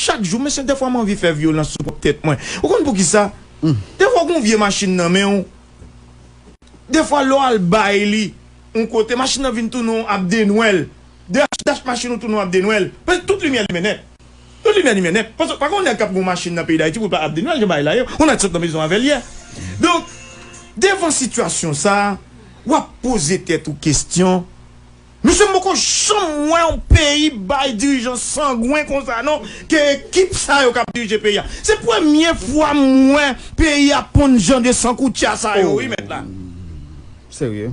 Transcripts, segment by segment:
Chak jou mesye dèfwa m anvi fè vyolans sou pwòp tèt mwen ou konn poukisa dèfwa ou gen yon vye machin nan men w dèfwa lè w al bay li yon kote machin nan vin tounen w abdenwèl dèch dach machin ou tounen w abdenwèl paske tout limyè limen nèt tout limyè limen nèt paske pa gen yon nèg k ap gen yon machin nan peyi dayiti pou l pa abdenwèl jan bagay la ye yon nèg sot nan prizon avè l yè donk devan sitiyasyon sa a w ap poze tèt ou kesyon. Mesye m poko janm wè yon peyi bay dirijan sangwen konsa non ke ekip sa yo kap dirije peyi a se premye fwa m wè peyi a ponn jan de san koutya sa yo wi mèt la serye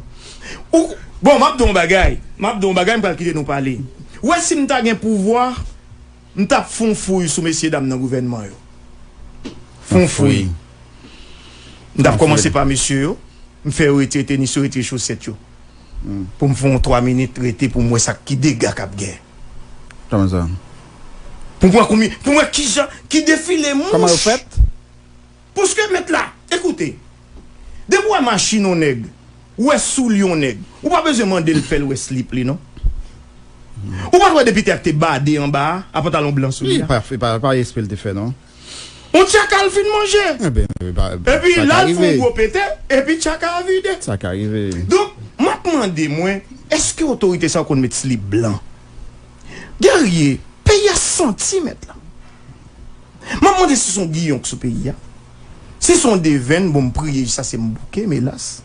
ou bon map di w yon bagay map di w yon bagay m pral kite nou pale ou wè si m ta gen pouvwa m tap fè yon fouy sou mesye dam nan gouvènman yo fè yon fouy m tap kòmanse pa mesye yo m fè yo retire tenis yo retire chosèt yo. Poum fè yon 3 minit rete poum wè sak ki dega kap gen. Kman sa? Poum wè konbyen poum wè kijan ki defile mouch. Kman yo fèt? Pouske met la ekoute depi ou wè machin yon nèg ou wè soulye yon nèg ou pa bezwen mandel fèl wè slip li non. Ou pat wè depi tè a te bade anba a pantalon blan sou li a. Epa espre li te fè non. On tchaka l fin manje. Epi la l fon gwo pete, epi tchaka a vide. Donk, m ap mande mwen, èske otorite sa yo konn met slip blan? Guerrier, peyi a santi mèt la. M ap mande si son giyon k sou peyi a. Si son devenn, bon m priye jis ase m bouke, m elas.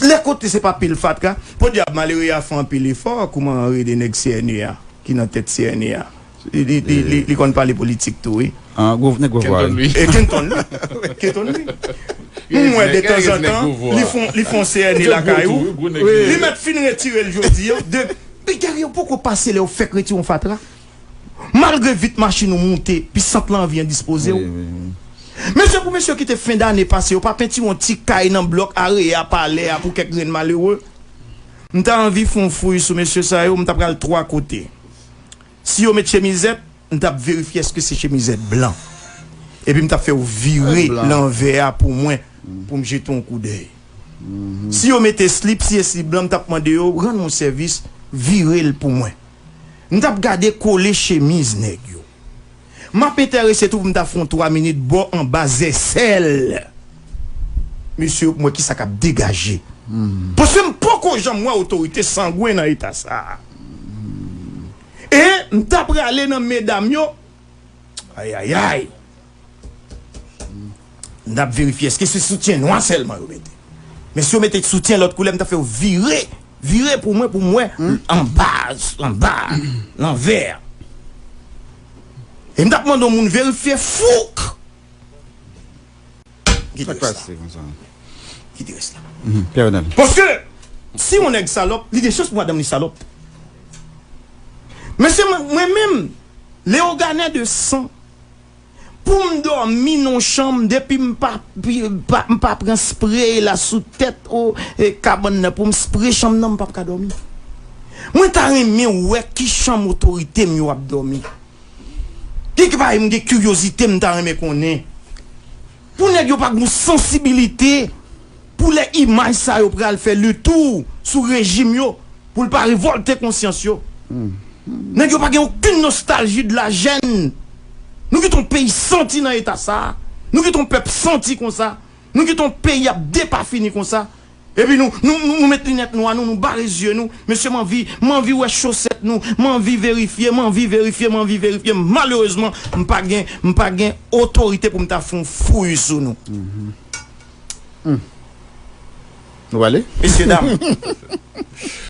Lè kote se pa pil fatra, podyab malere a fè anpil efò kouman anrede nèg CNE a ki nan tèt CNE a. Li konn pale politik tou wi. An gwo nèg gwo vwa wi. E Kenton wi. Kenton wi. M wè de tanzantan li fon CNE lakay ou. Li mèt fin retire l jodi an. Pi gari yo poko pase lè yo fèk retire yon fatra. Malgre vit machin ou moute pi sant lan anvi endispoze w. Mesye pou mesye yo kite fen dane pase yo pa pentire yon ti kay nan blòk Area palè a pou kèk grenn malere. M ta anvi fon fouy sou mesye sa yo m ta pral 3 kote. Si yo met chemizèt, m t ap verifye èske se chemizèt blan. Epi m t ap fè yo vire lanvè a pou mwen pou m jete yon koudèy. Si yo mete slip, si e slip blan, m t ap mande yo rann mwen sèvis, vire l pou mwen. M t ap gade kole chemiz nèg yo. Map entèrese tou pou m ta fon 3 minit bò anba zèsèl mesye yo pou m wè kisa kap degaje paske m poko janm wè otorite sangwen nan eta sa e m ta prale nan medam yo ayayay. N ap verifye eske se soutyen nwa sèlman yo mete. Men si yo mete soutyen lòt koulè m ta fè yo vire, vire pou mwen pou m wè anba, anba a, lanvè a. E m t ap mande yon moun verifye fouk! Ki te rès la? Ki te rès la? Paske si yon nèg salòp, li gen chans pou madanm li salòp. Mesye mwen menm, Leogane de san. Poum domi non chanm depi m pa m pa pran spray la sou tèt oh kabann nan poum spray chanm nan m pap ka domi mwen ta renmen wè ki chanm otorite m yo ap domi kek bagay m gen kiryozite m ta renmen konnen. Pou nèg yo pa gon sansibilite pou lè imaj sa yo pral fè le tour sou rejim yo pou l pa revòlte konsyans yo. Nèg yo pa gen okenn nostalji de la jèn. Nou kite yon peyi santi nan eta sa, nou kite yon pèp santi konsa, nou kite yon peyi ap depafini konsa Epi nou nou met linèt nwa nou nou bare zye nou mesye manvi manvi wè chosèt nou manvi verifye manvi verifye manvi verifye malerezman mpa gen mpa gen otorite poum ta fon fouy sou nou humm nou pale mesye dam.